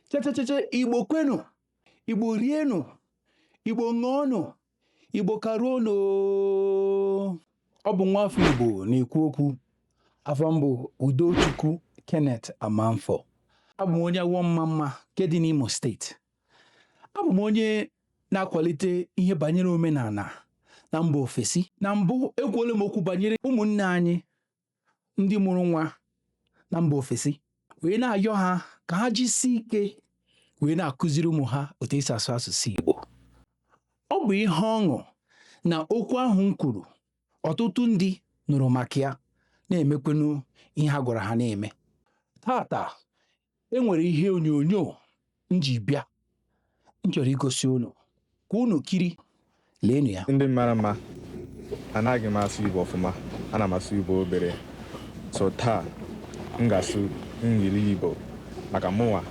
chechecheche igbo kwenu igbo rienu igbo ṅụọnụ igbo karuonu ọ bụ nwa afọ igbo na-ekwu okwu afa m bụ udochukwu kenneth amanfọ abụ m onye awọ ọmamma nke dị n'imo steeti abụ m onye na-akwalite ihe banyere omenala na mba ofesi na mbụ ekwuola m okwu banyere ụmụnne anyị ndị mụrụ nwa na mba ofesi wee na-ayọ ha ka ha jisie ike wee na-akụziri ụmụ ha otu e si asụ asụsụ Igbo ọ bụ ihe ọṅụ na okwu ahụ m kwuru ọtụtụ ndị nụrụ maka ya na-emekwenu ihe a gwara ha na-eme taata e nwere ihe onyonyo m ji bịa m chọrọ igosi unu ka unu kirie leenụ ya ndị mara mma anaghị m asụ igbo ọfụma ana m asụ igbo obere so taa m ga-asụ engli igbo maka mụnwa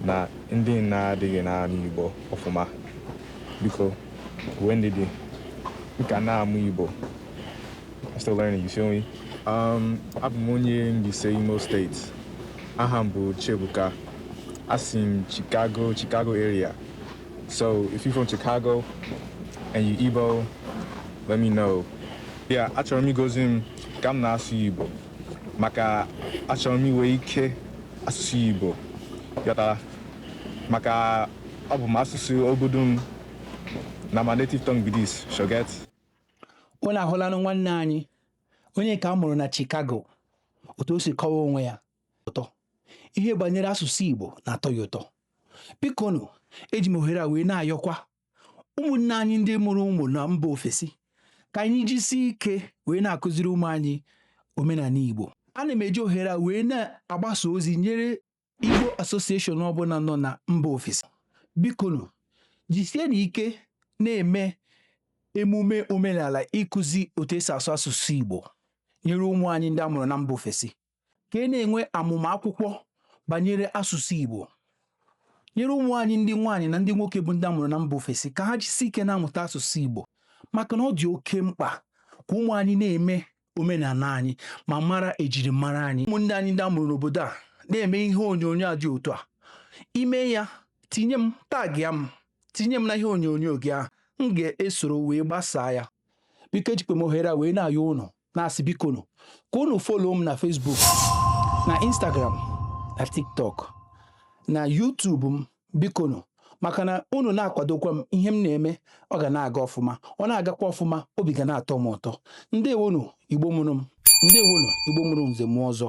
na ndị na-adịghị na-anụ igbo ọfụma biko nwee ndidi m ka na-amụ igbo I'm still learning, you feel me? Um, abụ m onye Mbaise Imo steeti. Aha m bụ Chiebuka. Asi m Chicago, Chicago area. So if you're from Chicago and you Igbo, let me know. Yeah, achọrọ m igosi m ka m na-asụ Igbo maka achọrọ m inwe ike asụsụ Igbo yọtara maka ọ bụ m asụsụ obodo m na my native tongue be this, sho get. unu ahụlanụ nwanne anyị onye nke a mụrụ na Chicago otu o si kọwaa onwe ya ụtọ ihe banyere asụsụ Igbo na-atọ ya ụtọ bikonu eji m ohere a wee na-ayọkwa ụmụnne anyị ndị mụrụ ụmụ na mba ofesi ka anyị jisie ike wee na-akụziri ụmụ anyị omenala Igbo ana m eji ohere a wee na-agbasa ozi nyere Igbo Association ọbụla nọ na mba ofesi bikonu jisienụ ike na-eme emume omenala ịkụzi otu e si asụ asụsụ Igbo nyere ụmụ anyị ndị a mụrụ na mba ofesi ka e na-enwe amụma akwụkwọ banyere asụsụ Igbo nyere ụmụ anyị ndị nwaanyị na ndị nwoke bụ ndị a mụrụ na mba ofesi ka ha jisie ike na-amụta asụsụ Igbo maka na ọ dị oke mkpa ka ụmụ anyị na-eme omenala anyị ma mara ejirimara anyị ụmụnne anyị ndị a mụrụ n'obodo a na-eme ihe onyonyo a dị otu a i mee ya tinye m tagịa m tinye m na ihe onyonyo gị ahụ m ga-esoro wee gbasaa ya biko ejikwa m ohere a wee na-ayọ ụnụ na-asị bikonu ka ụnụ follow m na Facebook na Instagram na TikTok na YouTube m bikonu maka na unu na-akwadokwa m ihe m na-eme ọ ga na-aga ọfụma ọ na-agakwa ọfụma obi ga na-atọ m ụtọ ndewonu igbo mụrụ m ndewonu igbo mụrụ nze mụọ ọzọ